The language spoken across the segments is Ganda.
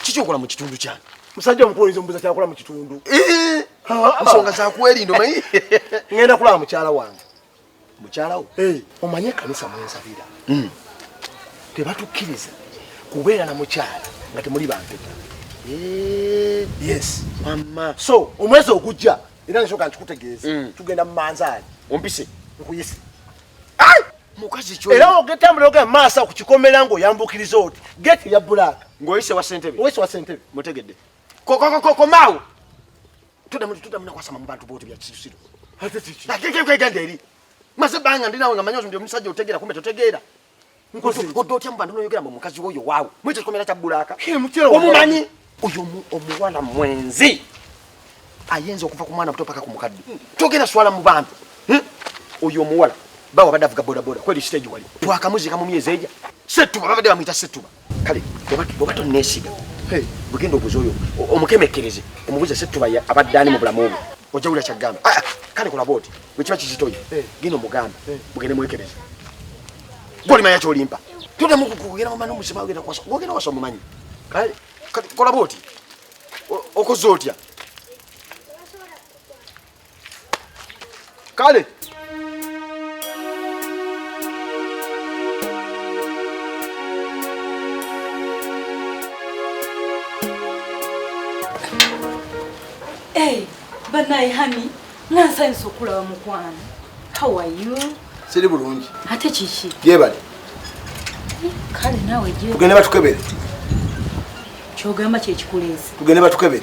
kiki okola mu kitundu kyange musajja omukuwuliza omubuza kyakola mu kitundu eh, nsonga zakwerinda omanyi ngenda kulaba mukyala wange mukyalawo eh. omanyi ekanisa mwensabira hmm. tebatukkiriza kubeera na mukyala nga temuli bampeta eh. yes mama so omwezi ogujja era nsoka nkikutegeeza hmm. tugenda mu manzaali ompise nkuyise mukazi kyo era ogetambula oga maasa ku kikomera ngo yambukiriza oti gate ya black ngoyise wa sentebe oyise wa sentebe mutegedde kokokokoko maawo tudamu tudamu nakwasama mu bantu boote bya kisirusiru agenda eri maze banga ndi nawe nga manyi ndi omusajja otegeera kumbe totegeera odde otya mu bantu noyogera mbu omukazi woyo waawo mu ekyo kikomera kya bbulaaka omumanyi oyo omuwala mwenzi ayenza okuva ku mwana muto paka ku mukadde togenda swala mu bantu hm? oyo omuwala bawa badde avuga bodaboda kweri siteegi wali twakamuziika mu myezi egya settuba babadde bamuyita settuba kale oba tonneesiga bugenda obuza oyo omukemekkereze omubuze setuba abadde ani mu bulamu obwo ojja wulira kyagamba ah, ah, kale kola booti bwekiba kizitoyo eh. genda omugambe eh. mugende mwekereze gwolimanya kyolimpa todamu kugenda mumana omusima ogenda kwasa gwogenda wasa omumanyi kale kola booti okoze otya kale banaye hani nansanyusa okulaba mukwano how are you siri bulungi ate kiki gyebali kale nawe tugende batukebere kyogamba kyekikuleese tugende batukebere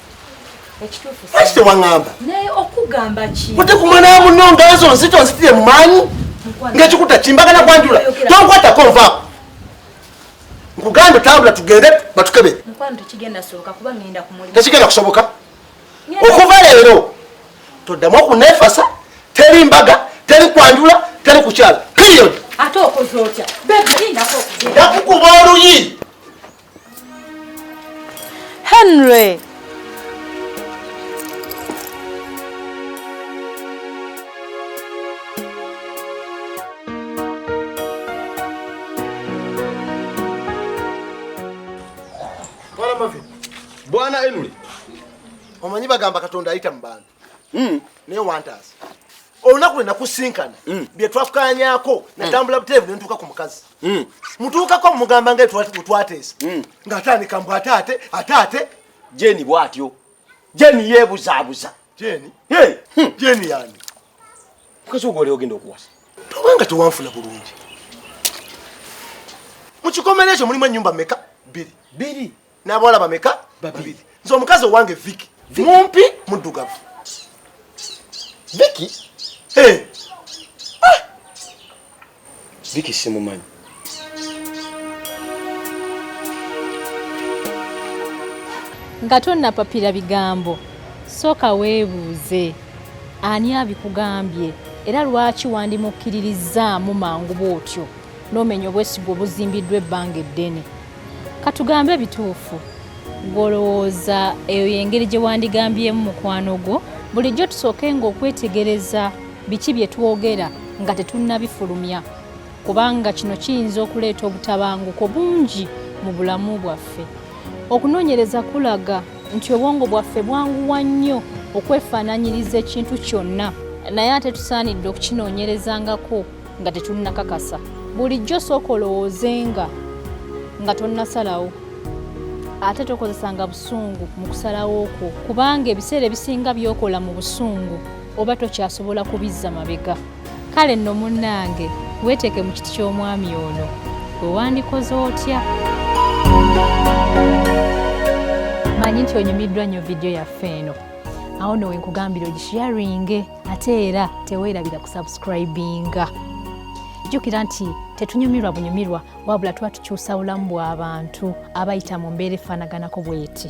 lwaki tewaŋamba ate ku mwana wamuno nga ezo nzito nzitire mu maanyi ngaekikuta kimbagana kwanjula tonkwatako nvaako nkugamba tambula tugende batukebe tekigenda kusoboka okuva leero toddamu okunefasa teri mbaga teri kwanjula teri kukyala period nakukuba oluyi Henry! Bwana Henry, omanyi bagamba Katonda ayita mu bantu. mm. naye wantaasa olunaku lwe nakusinkana mm. bye twakanyako mm. natambula buterevu ne ntuuka ku mukazi mm. mutuukako mumugamba nga twatesa mm. ng'atandika mbu ate ate ate ate jeni bw'atyo jeni yeebuzaabuza jeni hey. hmm. jeni yani mukazi ogwo oliogenda okuwasa tobanga tewanfuna bulungi mu kikomera ekyo mulimu ennyumba meka bbiri bbiri n'abawala bameka babiri nze omukazi owange viki mumpi muddugavu viki eh. ah! viki simumanyi nga tonnapapira bigambo sooka weebuuze ani abikugambye era lwaki wandimukkiririzaamu mangu bw'otyo n'omenya obwesigwa obuzimbiddwa ebbanga eddene katugambe ebituufu gwolowooza eyo yengeri gye wandigambyemu mukwano gwo bulijjo tusooke nga okwetegereza biki bye twogera nga tetunnabifulumya kubanga kino kiyinza okuleeta obutabanguko bungi mu bulamu bwaffe okunoonyereza kulaga nti obwongo bwaffe bwanguwa nnyo okwefaananyiriza ekintu kyonna naye ate tusaanidde okukinoonyerezangako nga tetunnakakasa bulijjo sooka olowoozenga nga tonnasalawo ate tokozesanga busungu mu kusalawo okwo kubanga ebiseera ebisinga byokola mu busungu oba tokyasobola kubizza mabega kale nno munnange weeteeke mu kiti ky'omwami ono wewandikoze otya manyi nti onyumiddwa nnyo vidiyo yaffe eno awo nowe nkugambira ogisharinge ate era teweerabira kusubscribinga jjukira nti tetunyumirwa bunyumirwa wabula tuba tukyusa bulamu bw'abantu abayita mu mbeera efaanaganako bweti